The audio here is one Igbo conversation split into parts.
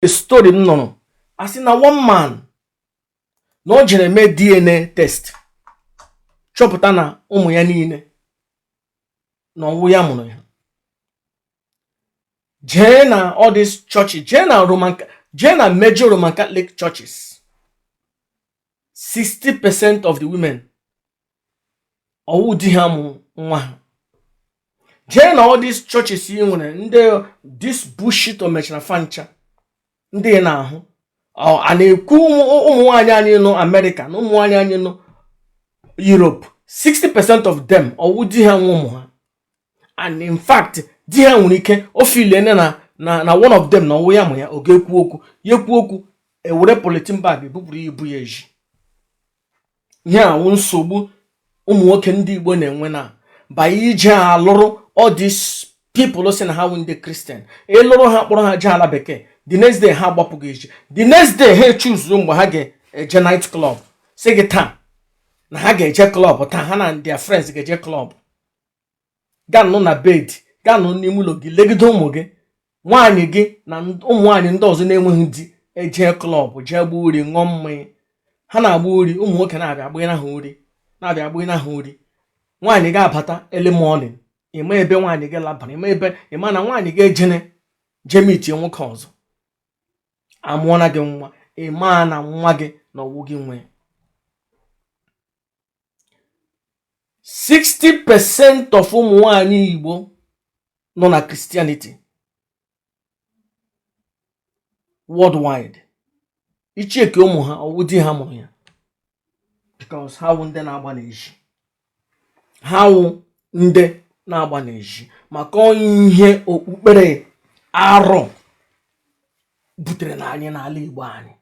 story m nụrụ a sị na one man na o jere mee DNA test chọpụta na ụmụ ya niile na ọwụ ya mụrụ ya jee na all these churches jee na Roman jee na major Roman Catholic churches 60% of the women ọwụ di ha mụ nwa ha jee na all these churches ị nwere ndị this bullshit o mechara fancha ndị ị na-ahụ a na-ekwu ụmụ nwaanyị anyị nọ America na ụmụ nwaanyị anyị nọ Europe 60% of them ọwụ di ha nwe ụmụ ha and in fact di ha nwere ike o feel na na na one of them na ọwụ ya mụ ya ọ ga-ekwu okwu ya ekwu okwu e were polythene bag ebupụrụ ya ibu ya ezi ihe a wụ nsogbu ụmụ nwoke ndị Igbo na-enwe na by ije alụrụ all these people sị na ha wụ ndị Christian ị lụrụ ha kpọrọ ha jee ala bekee the next day ha agbapụ gị ezi the next day ha echoose mgbe ha ga-eje night club sị gị taa na ha ga-eje club taa ha na ndị friends ga-eje club gaa nọ na bed gaa nọ n'ime ụlọ gị legide ụmụ gị nwaanyị gị na ụmụ nwaanyị ndị ọzọ na-enweghị di ejee club jee gbuo uri ṅụọ mmanya ha na-agba uri ụmụ nwoke na-abịa agbanye ha uri na-abịa agbanye ha uri nwaanyị ga-abata early morning ịma ebe nwaanyị gị labara ịma na nwaanyị gị ejene jee meetie nwoke ọzọ amụọna gị nwa ịma na nwa gị na ọwụ gị nwe 60 percent of ụmụ nwanyị Igbo nọ na Christianity worldwide i checkie ụmụ ha ọwụ di ha mụrụ ya because ha wụ ndị na-agba n'ezi ha wụ ndị na-agba n'ezi maka ihe okpukpere arụ buterena anyị n'ala Igbo anyị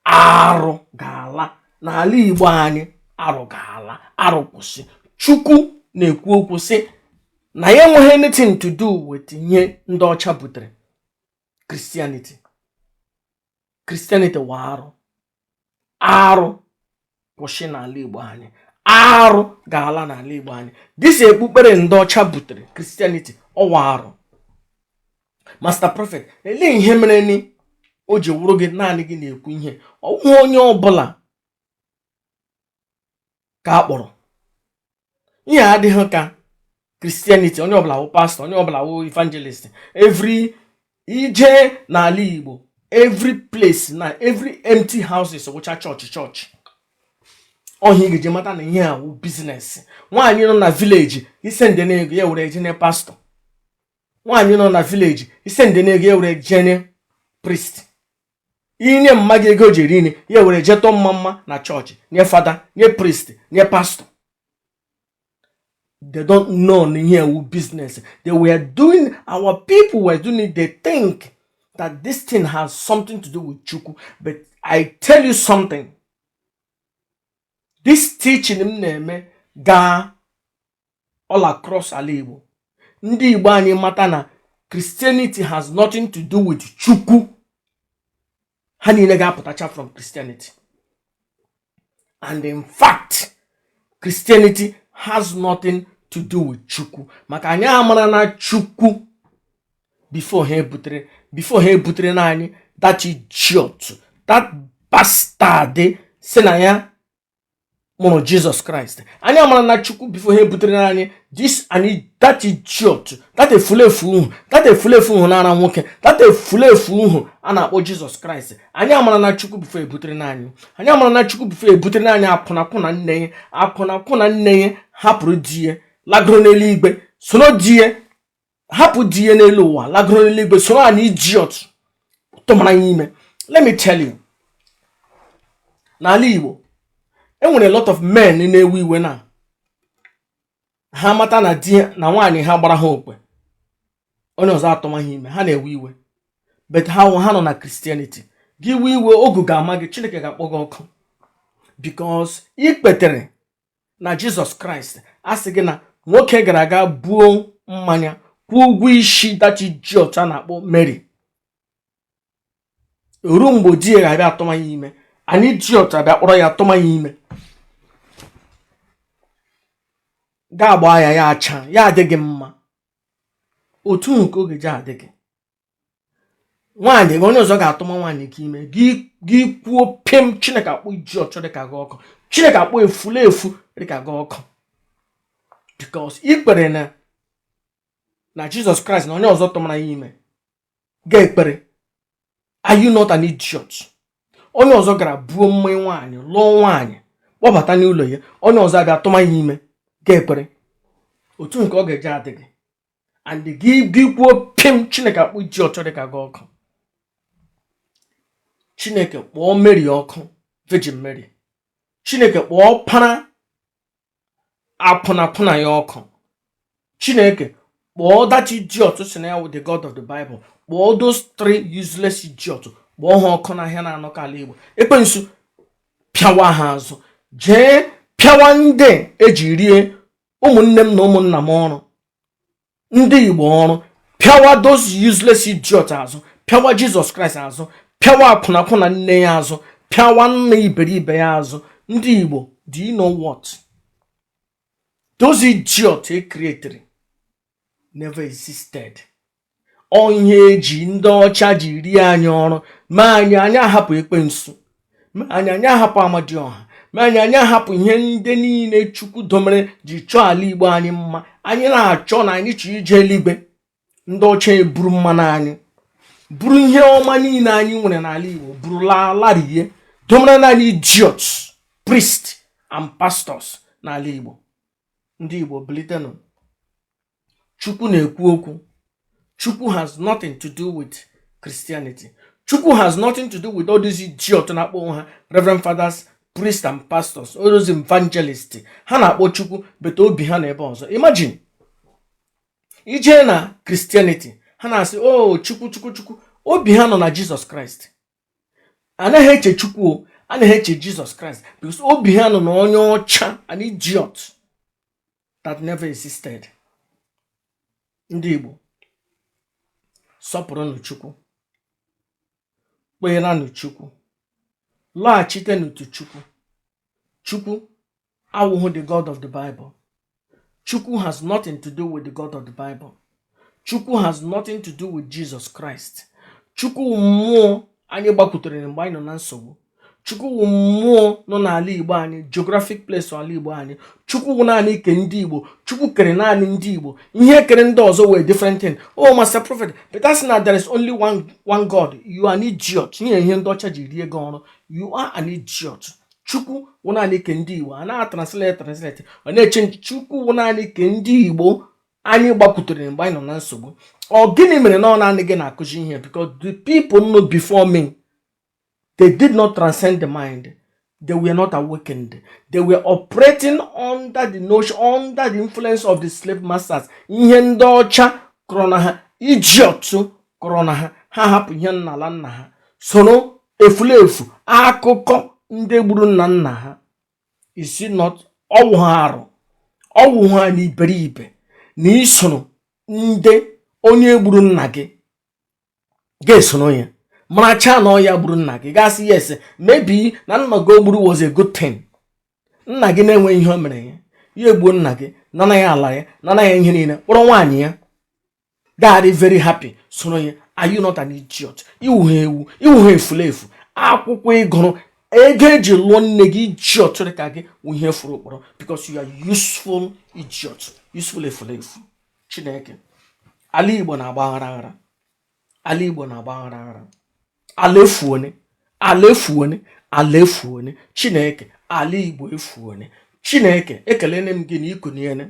arụ ga-ala n'ala igbo anyị arụ ga-ala arụ kwụsị chukwu na-ekwu okwu sị na ya enweghị anything to do with ihe ndị ọcha butere Christianity Christianity wụ arụ arụ kwụsị n'ala Igbo anyị arụ ga-ala n'ala Igbo anyị this ekpukpere ndị ọcha butere Christianity ọwụ arụ Master Prophet elee ihe mere ni o ji wụrụ gị naanị gị na-ekwu ihe ọwụ onye ọbụla ka a kpọrọ ihe a adịghị ka christianity onye ọbụla wụ pastor onye ọbụla wụ evangelist every i je n'ala igbo every place na every empty houses wụcha chọọchị chọọchị ọ ihe ị ga-eji mata na ihe a wụ business nwaanyị nọ na village i sendịna ego ya ewere jene pastor nwaanyị nọ na village i sendịna ego ya ewere jene priest i nye mma gị ego o ji eri nri ya ewere je tụọ mmamma na chọọchị nye fada nye priest nye pastor they don't know na ihe a wụ business they were doing our people were doing it they think that this thing has something to do with chukwu but i tell you something this teaching m na-eme gaa all across ala Igbo ndị Igbo anyị mata na Christianity has nothing to do with Chukwu ha niile ga-apụtacha from Christianity and in fact Christianity has nothing to do with Chukwu maka anyị amarana Chukwu before ha ebutere before ha ebutere na anyị that idiot that bastard si na ya mụrụ jizọs kraịst anyị amarana chukwu before ha ebutere na anyị this and that idiot that efulefu uhu that efulefu uhu na-ara nwoke that efulefu uhu a na-akpọ jizọs kraịst anyị amarana chukwu before ebutere n'anyị anyị amarana chukwu before ebutere n'anyị akwụnakwụna nne ya akwụnakwụna nne ya hapụrụ di ya lagoro n'eluigwe soro di ya hapụ di ya n'elu ụwa lagoro n'eluigwe soro an idiot tụmara ya ime let me tell you n'ala igbo e nwere lot of men na-ewe iwe na ha mata na di na nwaanyị ha gbara ha okwe onye ọzọ atụma ha ime ha na-ewe iwe but ha ha nọ na Christianity gị wee iwe ogu ga-ama gị Chineke ga-akpọ gị ọkụ because i kwetere na jizọs kraịst a sị gị na nwoke gara aga buo mmanya kwụọ ụgwọ isi that idiot a na-akpọ mary ruo mgbe di ya ga-abịa atụma ya ime an idiot abịa kpọrọ ya atụma ya ime gị agbaa ya ya acha ya adị gị mma otu nke ọ ga-eji adị gị nwaanyị gị onye ọzọ ga-atụma nwaanyị gị ime gị kwuo pịm chineke akpọ idiot dịka gị ọkụ chineke akpọ efulefu dịka gị ọkụ because i kwere na na jizọs kraịst na onye ọzọ tụmara ya ime gị ekwere are you not an idiot onye ọzọ gara buo mmanya nwaanyị lụọ nwaanyị kpọbata n'ụlọ ya onye ọzọ abịa tụma ya ime gị ekwere otu nke ọ ga-eji adị gị and gị gị kwuo pim chineke akpọọ idiot dịka gị ọkụ chineke kpọọ mary ọkụ virgin mary chineke kpọọ ọpara akwụnakwụna ya ọkụ chineke kpọọ that idiot sị na ya wụ the god of the bible kpọọ those three useless idiot kpọọ ha ọkụ n'ahịa naanọ ke ala igbo ekwensu pịawa ha azụ jee pịawa ndị eji rie ụmụnne m na ụmụnna m ọrụ ndị igbo ọrụ pịawa those useless idiot azụ pịawa jizọs kraịst azụ pịawa akwụnakwụna nne ya azụ pịawa nna iberibe ya azụ ndị igbo do you know what those idiot e created never existed ọ ihe eji ndị ọcha ji rie anyị ọrụ ma anyị anyị ahapụ ekwensu ma anyị anyị ahapụ amadioha ma anyị anyị ahapụ ihe ndị niile chukwu domere ji chọọ ala igbo anyị mma anyị na-achọ na anyị chọọ ije eluigwe ndị ọcha eburu mmanụ anyị buru ihe ọma niile anyị nwere n'ala igbo buru lalarie domere naanị idiots priest and pastors n'ala igbo ndị Igbo bilitenụ Chukwu na-ekwu okwu Chukwu has nothing to do with Christianity Chukwu has nothing to do with all these idiot na-akpọ onwe ha Reverend Fathers priest and pastors all those evangelists ha na-akpọ Chukwu but obi ha nọ ebe ọzọ imagine ije na Christianity ha na-asị oh, Chukwu Chukwu Chukwu obi ha nọ na Jizọs Kraịst anaghị eche chukwu anaghị eche jizọs kraịst because obi ha nọ na onye ọcha an idiot that never existed ndị igbo sọpụrụnụ chukwu kpeeranụ chukwu lọghachitenụ to chukwu chukwu awụhụ the God of the Bible Chukwu has nothing to do with the God of the Bible Chukwu has nothing to do with Jesus Christ Chukwu mmụọ anyị gbakwutere mgbe anyị nọ na nsogbu Chukwu mmụọ nọ n'ala Igbo anyị geographic place ala Igbo anyị Chukwu wụ naanị ke ndị Igbo Chukwu kere naanị ndị Igbo ihe kere ndị ọzọ wụ different thing oh master prophet but that's not there is only one one God you are an idiot ihe ihe ndị ọcha ji rie gị ọrụ you are an idiot chukwu wụ naanị ke ndị igbo a na-atranslate translate ọ na-echange chukwu wụ naanị ke ndị igbo anyị gbakwutere mgbe anyị nọ na nsogbu ọ gịnị mere na ọ naanị gị na-akụzi ihe because the people know before me they did not transcend the mind they were not awakened they were operating under the notion under the influence of the slave masters ihe ndị ọcha kọrọ na ha idiot kụrụ na ha ha hapụ ihe nna ala nna ha soro efulefu akụkọ ndị gburu nna nna ha is it not ọ wụha arụ ọ wụha na iberibe na i soro ndị onye gburu nna gị ga-esoro ya maracha na ọ ya gburu nna gị ga-asị yes maybe na nna gị o gburu was a good thing nna gị na-enwe ihe o mere ya ya egbuo nna gị nana ya ala ya nana ya ihe niile kpọrọ nwaanyị ya ga-adị very happy soro ya are you not an idiot ị wụhe ewu ị wụhe efulefu akwụkwọ ị gụrụ ego e ji lụọ nne gị idiot dị ka gị ihe furu ụkpọrọ because you are useful idiot useful efulefu chineke ala igbo na-agba aghara aghara ala igbo na-agba aghara aghara ala efuone ala efuone ala efuone chineke ala igbo efuone chineke ekelene m gị na i kuniene